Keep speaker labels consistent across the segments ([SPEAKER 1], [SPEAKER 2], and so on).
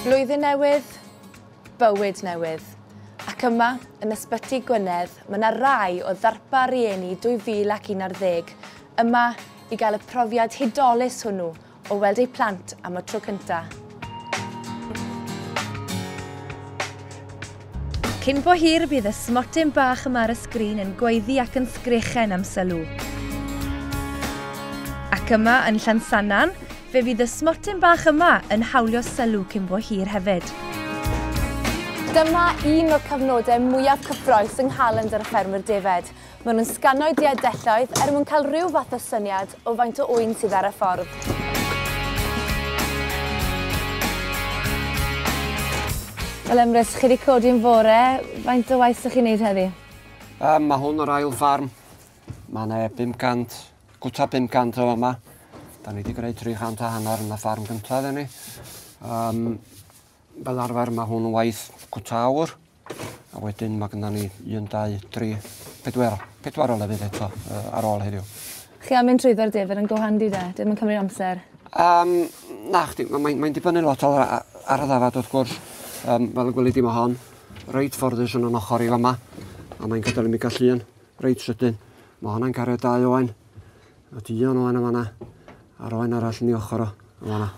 [SPEAKER 1] Blwyddyn newydd, bywyd newydd. Ac yma, yn Ysbyty Gwynedd, mae yna rai o ddarpa rieni 2011 yma i gael y profiad hudolus hwnnw o weld eu plant am y tro cyntaf. Cyn bo hir bydd y smotyn bach yma ar y sgrin yn gweiddi ac yn sgrechen am sylw. Ac yma yn Llansannan, Fe fydd y smotyn bach yma yn hawlio sylw cyn bo hir hefyd. Dyma un o'r cyfnodau mwyaf cyffroes yng nghalendr y ffermwr defaid. Maen nhw'n sgano'u diadelloedd er mwyn cael rhyw fath o syniad o faint o ŵyn sydd ar y ffordd. Wel Emrys, chi wedi codi yn fore, faint o waith ydych chi'n neud heddi? Yym, mae hwn
[SPEAKER 2] yr ail ffarm. Mae yna 500 Gwta 500 o fama. Da ni wedi gwneud 300 a hanner yn y ffarm gyntaf ni. Um, fel arfer mae hwn yn waith gwta awr. A wedyn mae gyda ni 1, 2, 3, 4, 4 o lefydd eto uh, ar ôl heddiw. Chi am mynd trwyddo'r
[SPEAKER 1] dyfr yn go handi de? Dim yn cymryd amser. Um,
[SPEAKER 2] na, chdi, mae'n mae, mae dibynnu lot ar, ar y ddafad wrth gwrs. Um, fel y gwylid i mae hon, reit fforddus yn o'n ochr i fama. A mae'n gadael i mi gallu yn. Reit sydyn. Mae hwnna'n cario dau oen. Mae dion oen yn fanna. A'r oen arall yn ei ochr o, yn fanna.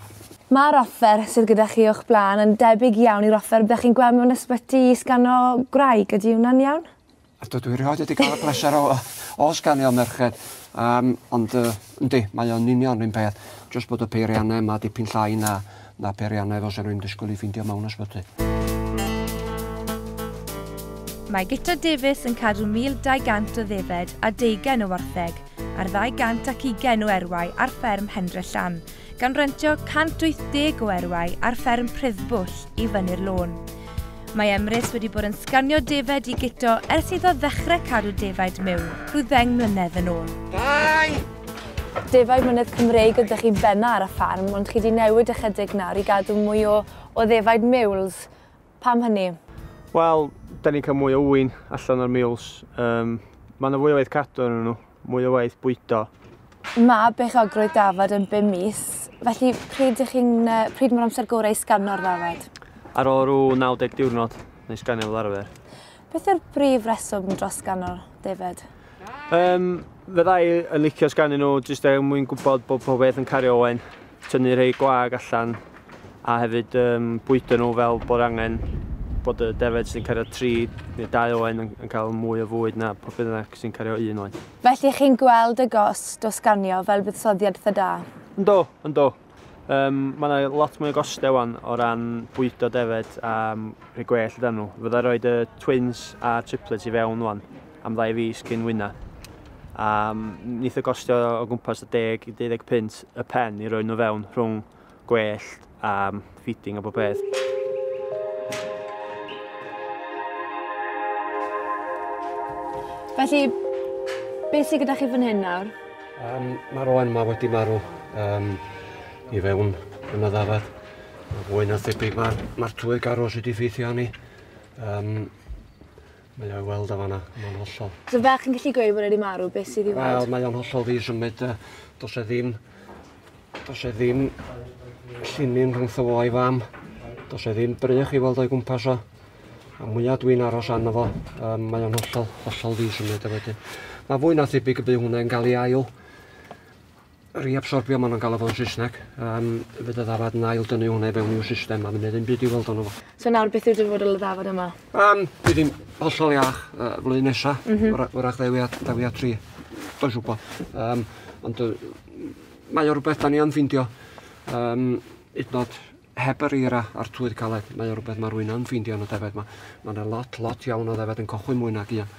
[SPEAKER 2] Mae'r offer
[SPEAKER 1] sydd gyda chi o'ch blaen yn debyg iawn i'r offer byddech chi'n gweld mewn ysbyty i sgano gwraig, ydy hwnna'n iawn? Ydw, dwi erioed
[SPEAKER 2] wedi cael y pleser o, o sganio merched. Um, ond, uh, yndi, mae o'n union rhywun peth. Just bod y peiriannau yma dipyn llai na Na peiriannau fel 'sa rwy'n disgwyl eu ffeindio mewn ysbyty.
[SPEAKER 1] Mae Guto Davies yn cadw 1,200 o ddefed a deugain o wartheg ar ddau gant ac ugain o erwau ar fferm Hendre Llan, gan rentio 180 o erwau ar fferm Pruddbwll i fyny'r lôn. Mae Emrys wedi bod yn sganio defed i Guto ers iddo ddechrau cadw defaid miwn rhyw ddeng mlynedd yn ôl. Dau! Defaid mynydd Cymreig ydych chi benna ar y ffarm, ond chi di newid ychydig nawr i gadw mwy o, o ddefaid miwls. Pam hynny? Wel,
[SPEAKER 3] da ni'n cael mwy o ŵyn allan o'r miwls. Um, mae yna fwy o waith cadw yn nhw, mwy o waith bwydo. Mae
[SPEAKER 1] beichiogrwydd dafod yn bum mis, felly pryd ych chi'n, pryd mae'r amser gorau i sgano'r ddafod? Ar ôl
[SPEAKER 3] rhyw 90 diwrnod, neu sganio fel arfer. Beth yw'r brif
[SPEAKER 1] reswm dros ganol, David? Um,
[SPEAKER 3] fe ddau yn licio sgannu nhw, jyst er mwyn gwybod bod pob beth yn cario oen, tynnu rhai gwag allan, a hefyd um, bwydo nhw fel bod angen bod y defed sy'n cario tri neu dau oen yn, yn cael mwy o fwyd na pob bynnag sy'n cario un oen. Felly chi'n gweld y
[SPEAKER 1] gos dos ganio fel buddsoddiad tha da? Ynddo, ynddo.
[SPEAKER 3] Um, mae yna lot mwy o gostau wan o ran bwydo defed a um, rhoi gwell dan nhw. Fydda roi y twins a triplets i fewn wan am ddau fus cyn wyna. A um, nith y gostio o gwmpas y 10 i 15 y pen i roi nhw fewn rhwng gwell a um, feeding a bob peth.
[SPEAKER 1] Felly, beth sydd gyda chi fan hyn nawr? Um, Mae'r
[SPEAKER 2] oen yma wedi marw um, i fewn yn y ddafad. Fwy na thebyg mae'r ma tywydd garw sydd wedi ffeithio ni. Um, Mae o'i weld o fanna, mae'n hollol. Sa ferch yn gallu gweud
[SPEAKER 1] bod e wedi marw, beth sydd i weld? Wel, mae o'n hollol ddi-symud.
[SPEAKER 2] Does e ddim... Does e ddim llinyn rhwngtho fo a'i fam. Does e ddim brych i weld o'i gwmpas o. A mwyaf dwi'n aros arno fo, um, mae o'n hollol, hollol ddi-symud a wedyn. Mae fwy na thebyg y bydd hwnna'n cael ei ail Reabsorbio, maen nhw'n galw fo'n Saesneg. Um, fe dy ddafad yn ail dynnu hwnna i fewn i'w system, a mynd ddim byd i weld o'n fo. So nawr, beth yw'r dyfodol
[SPEAKER 1] y ddafad yma? Um, bydd hi'n
[SPEAKER 2] hollol iach uh, flwyddyn nesa, mm -hmm. wrach ddewi a, ddewi a tri, does wybod. Um, ond uh, mae o rhywbeth da ni am ffindio. Um, idnod heb yr eira a'r twydd caled, mae o rhywbeth mae rwy'n yn ffeindio yn y defaid yma. Mae yna lot, lot iawn o ddefaid yn cochwyn mwy nag un.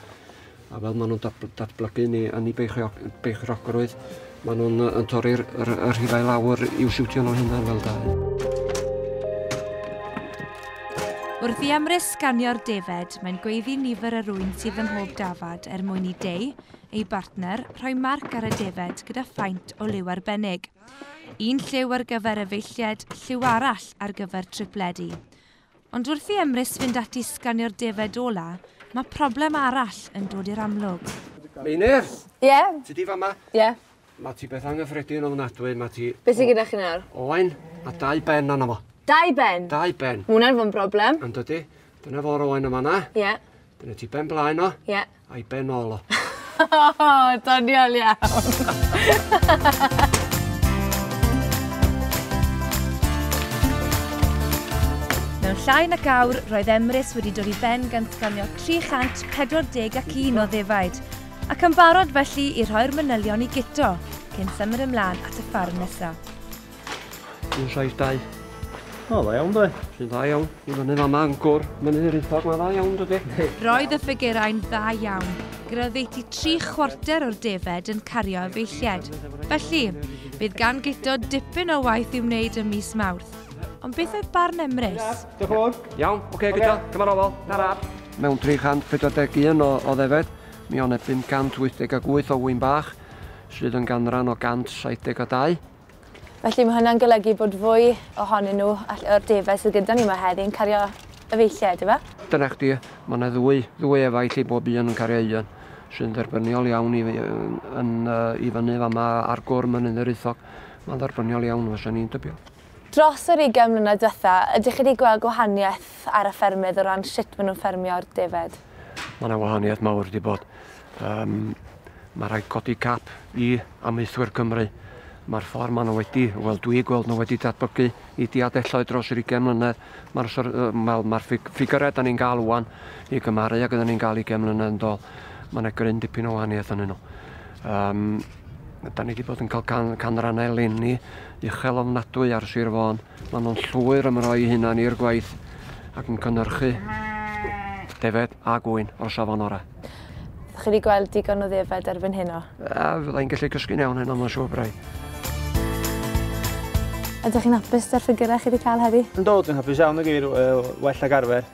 [SPEAKER 2] A fel maen nhw'n datblygu ni yn ei beichogrwydd, maen nhw'n uh, torri'r rhifau lawr i'w siwtio nhw hynna fel da.
[SPEAKER 1] Wrth i Amrys sganio'r defed, mae'n gweiddi nifer yr rwy'n sydd ym mhob dafad er mwyn i Dei, ei bartner, rhoi marc ar y defed gyda phaent o liw arbennig. Un lliw ar gyfer efeilliaid, lliw arall ar gyfer tripledi. Ond wrth i Emrys fynd ati i sganio'r defaid ola, mae problem arall yn dod i'r amlwg. Meinir!
[SPEAKER 2] Ie? Yeah. Ti di
[SPEAKER 1] fama? Ie.
[SPEAKER 2] Yeah. Mae
[SPEAKER 1] ti beth
[SPEAKER 2] anghyffredin
[SPEAKER 1] o
[SPEAKER 2] ddynadwy, mae
[SPEAKER 1] ti...
[SPEAKER 2] Beth sy'n gyda chi
[SPEAKER 1] nawr?
[SPEAKER 2] Owain, a dau ben
[SPEAKER 1] anna
[SPEAKER 2] fo. Dau
[SPEAKER 4] ben? Dau ben. Mwna'n fy
[SPEAKER 2] broblem.
[SPEAKER 4] Yn dydy. Dyna
[SPEAKER 2] fo'r owain yma na. Ie. Yeah. Dyna ti
[SPEAKER 4] ben
[SPEAKER 2] blaen o. Ie. Yeah. Ai ben ôl
[SPEAKER 4] o. Doniol iawn.
[SPEAKER 1] Mewn llai na gawr, roedd Emrys wedi dod i ben gan sganio 341 o ddefaid, ac yn barod felly i rhoi'r manylion i Guto, cyn symud ymlaen at y ffarm nesaf. Dwi'n
[SPEAKER 2] size dau.
[SPEAKER 3] O, dda iawn dwi. Dwi'n dda iawn. Dwi'n fyny
[SPEAKER 2] fama yn gwr. Mae'n yr ithog, mae'n dda iawn dydy. Roedd y ffigurau'n
[SPEAKER 1] dda iawn. Graddeiti tri chwarter o'r defed yn cario efeilliad. Felly, bydd gan Gito dipyn o waith i'w wneud ym mis Mawrth. Ond beth oedd barn Emrys? Diolch fawr. Iawn,
[SPEAKER 3] oce, okay, Gito, okay.
[SPEAKER 2] cyma'n ofal. Tara. Mewn 341 o, o ddefed, mi o'n e 588 o wy'n bach, sydd yn ganran o 172. Felly
[SPEAKER 4] mae hynna'n golygu bod fwy ohonyn nhw all o'r defaid sydd gyda ni yma heddi yn cario efeilliaid, ife? Dyna chdi, mae
[SPEAKER 2] yna ddwy, ddwy efaill i bob un yn cario un, sy'n dderbyniol iawn i, yn, i fyny fan yma ar gwr Mynydd yr Eithog. Mae'n dderbyniol iawn, fysa ni'n tybio. Dros yr ugain
[SPEAKER 4] mlynedd diwetha, ydych chi wedi gweld gwahaniaeth ar y ffermydd o ran sut maen nhw'n ffermio'r defaid? Mae yna wahaniaeth
[SPEAKER 2] mawr wedi bod. Um, mae rhaid codi cap i amaethwyr Cymru. Mae'r ffordd maen nhw wedi, wel dwi gweld nhw wedi datblygu i diadelloedd dros yr 20 mlynedd. Mae'r ma, ma ffigurau da ni'n gael wwan i gymaru ag ydyn ni'n gael 20 mlynedd yn dol. Mae yna gryn dipyn o wahaniaeth yn nhw. Um, da ni wedi bod yn cael can, canrannau lenni uchel ofnadwy ar Sir Fôn. Mae nhw'n llwyr ymroi hunan i'r gwaith ac yn cynnyrchu defed a gwy'n o'r safon orau. Ydych chi wedi
[SPEAKER 4] gweld digon o ddefaid erbyn heno? A, fydda i'n gallu cysgu'n
[SPEAKER 2] iawn heno, mae'n siŵr braidd.
[SPEAKER 4] Ydych chi'n hapus da'r ffigurau chi wedi cael heddi? Ynddo, dwi'n hapus iawn y
[SPEAKER 3] geir, well ag arfer.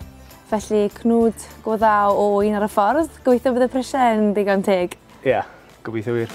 [SPEAKER 3] Felly,
[SPEAKER 4] cnwd go dda o un ar y ffordd. Gobeithio bydd y prisiau yn ddigon teg. Ia, gobeithio
[SPEAKER 3] wir.